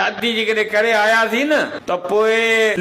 ادي جيڪڏهن ڪري آياسين نه. ته پوء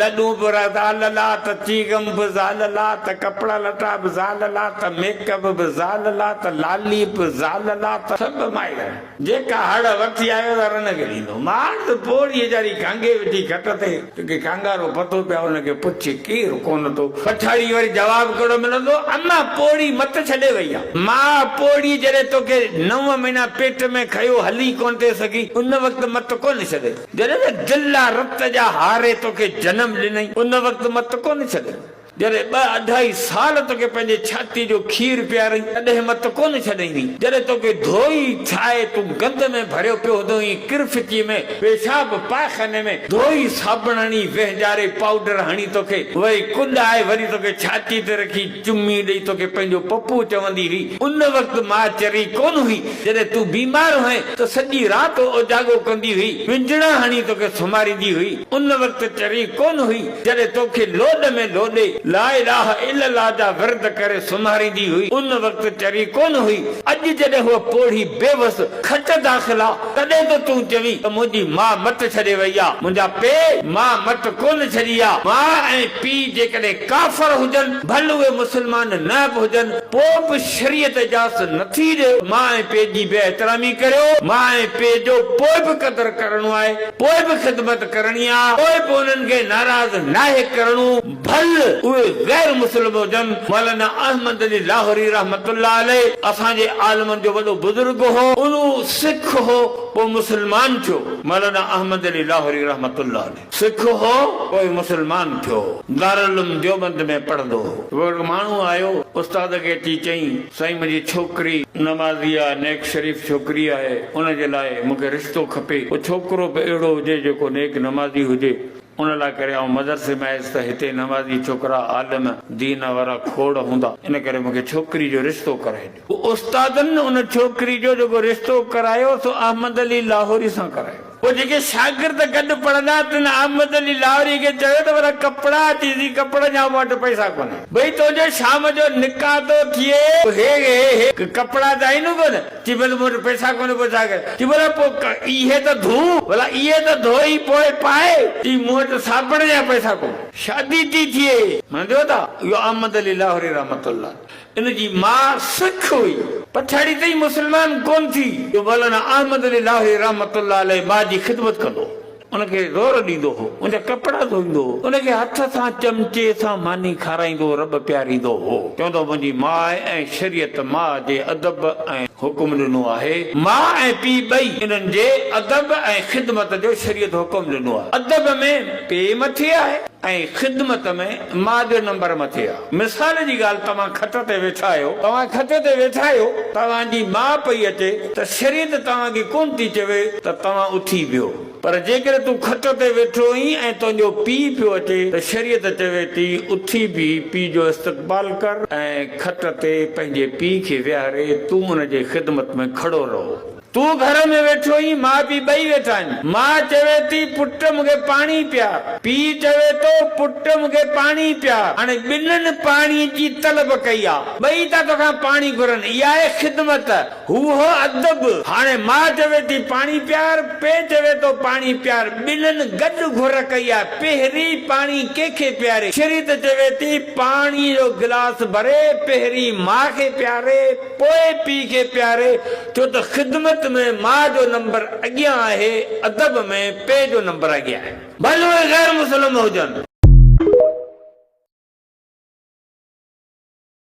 لڏون به زال لا ته چيگم به زال لا ته ڪپڙا لٽا به زال لا ته ميڪ اپ به زال لا ته لالي به زال لا ته سڀ مائي لا. جيڪا هڙ وٺي آيو ته رن کي ڏيندو. ماڻس پوڙهي جاري گهنگهي وٺي گهٽ تي. توکي ڪانگارو پتو پيا ان کي پڇ ڪير ڪونه ٿو. پٺاڙيء وري جواب ڪهڙو ملندو، اما پوڙهي مت ڇڏي وئي آ. ماء پوڙهي جڏهن توکي نو مهينا پيٽ ۾ کنيو هلي ڪونه ٿي سگهي، ان وقت مت ڪونه ڇڏي. جڏهن ته دل لا رت جا هاري توکي جنم ڏنئي، ان وقت مت ڪونه ڇڏي. جڏهن ٻه اڍائي سال توکي پنهنجي ڇاتيء جو کير پيارئي، تڏهن مت ڪونه ڇڏينء. جڏهن توکي ڌوئي ٺاهي تون گند ۾ ڀريو پيو هوندو هئين، ڪرفتيء ۾، پيشاب پاخاني ۾ ڌوئي صابڻ هڻي وهنجاري پائوڊر هڻي توکي وئي ڪنڊ آهي وري توکي ڇاتي تي رکي چمي ڏئي توکي پنهنجو پپو چوندي هئي ان وقت ماء چري ڪونه هئي جڏهن تون بيمار هئين ته سڄي رات اوجاڳو ڪندي هئي ونجڻا هڻي توکي سمهاريندي هئي ان وقت چري ڪونه هئي جڏهن توکي لوڏ ۾ لوڏي لا اله الا الله جا ورد ڪري سمهاريندي هئي ان وقت چري ڪونه هئي اڄ جڏهن هوء پوڙهي بيوس کٽ داخل آ. تڏهن ته تون چوين ته منهنجي ماء مٽ ڇڏي وئي آ، منهنجا پي ماء مٽ ڪونه ڇڏي آ. ماء ۽ پي جيڪڏهن ڪافر هجن، ڀل اهي مسلمان نه به هجن، پوء به شريعت اجازت نٿي ڏئي ته ماء ۽ پي جي بي احترامي ڪريو. ماء ۽ پي جو پوء به قدر ڪرڻو آهي، پوء به خدمت ڪرڻي آ، پوء به انهن کي ناراض ناهي ڪرڻو. ڀل اهي غير مسلم هجن، مولانا احمد علي لاهوري رحمة الله عليه اسان جي عالمن جو وڏو بزرگ هو، اهو سک هو پوء مسلمان ٿيو، مولانا احمد علي لاهوري رحمة الله عليه سک هو پوء مسلمان ٿيو، دارالعلوم ديوبند ۾ پڙهندو هو. پوء هڪ ماڻهو آيو استاد کي اچي چئين، سائين منهنجي ڇوڪري نمازي آ، نيڪ شريف ڇوڪري آهي، ان جي لاء مون کي رشتو کپي، ڪو ڇوڪرو به اهڙو هجي جيڪو نيڪ نمازي هجي. ان لاء ڪري آئون مدرسي ۾ آيس ته هتي نمازي ڇوڪرا عالم دين وارا کوڙ هوندا، ان ڪري مون کي ڇوڪري جو رشتو ڪرائي ڏيو. استادن ان ڇوڪري جو جيڪو رشتو ڪرايو سو احمد علي لاهوري سان ڪرايو. پوء جيڪي شاگرد گڏ پڙهندا تن احمد علي لاهوري کي چيو ته ورا ڪپڙا اچي سي ڪپڙن جا مون وٽ پئسا ڪونهن. ڀئي تنهنجو شام جو نڪاح ٿو ٿئي. هي هي هي ڪپڙا ته آهن ڪونه. چي ڀلا مون وٽ پئسا ڪونهن پوء ڇا ڪريان؟ چي ڀلا پوء اهي ته ڌو، ڀلا اهي ته ڌوئي پوء پائي، چي مون وٽ صابڻ جا پئسا ڪونهن. شادي ٿي ٿئي. منديو ٿا. اهو احمد علي لاهوري رحمة الله ان جي ماء سک هئي. پڇاڙي تائين مسلمان ڪونهن ٿي. جو مولانا احمد علي لاهوري رحمة الله عليه ماء جي خدمت ڪندو هو. ان کي زور ڏيندو هو، ان جا ڪپڙا ڌوئيندو هو، ان کي هٿ سان چمچي سان ماني کارائيندو رٻ پياريندو هو، چوندو هو منهنجي ماء ۽ شريعت ماء جي ادب ۽ حڪم ڏنو آهي، ماء ۽ پيء ٻئي انهن جي ادب ۽ خدمت جو شريعت حڪم ڏنو آهي، ادب ۾ پيء مٿي آهي ۽ خدمت ۾ ماء جو نمبر مٿي آهي. مثال جي ڳالهه توهان کٽ تي ويٺا آهيو. توهان کٽ تي ويٺا آهيو، توهان جي ماء پئي اچي ته شريعت توهان کي ڪونه ٿي چوي ته توهان اٿي ويهو. پر جيڪڏهن تون کٽ تي ويٺو آهين ۽ تنهنجو پيء پيو اچي ته شريعت چوي ٿي اٿي بيهي پيء جو استقبال ڪر ۽ کٽ تي پنهنجي پيء کي ويهاري تون ان جي خدمت ۾ کڙو رهو. تون گهر ۾ ويٺو آهين، ماء پيء ٻئي ويٺا آهن. ماء چوي ٿي، پٽ مون کي پاڻي پيار. پيء چوي ٿو، پٽ مون کي پاڻي پيار. هاڻي ٻنهن پاڻي جي طلب ڪئي آهي. ٻئي ٿا توکان پاڻي گهرن. اها آهي خدمت. هو هو ادب. هاڻي ماء چوي ٿي، پاڻي پيار. پيء چوي ٿو، پاڻي پيار. ٻنهن گڏ گهر ڪئي آهي. پهرين پاڻي ڪنهن کي پياري؟ شريت چوي ٿي، پاڻي جو گلاس ڀري، پهرين ماء کي پياري، پوء پيء کي پياري. ٿيو ته خدمت ۾ ماء جو نمبر اڳيان آهي، ادب ۾ پيء جو نمبر اڳيان آهي. ڀلي اهي غير مسلم هجن.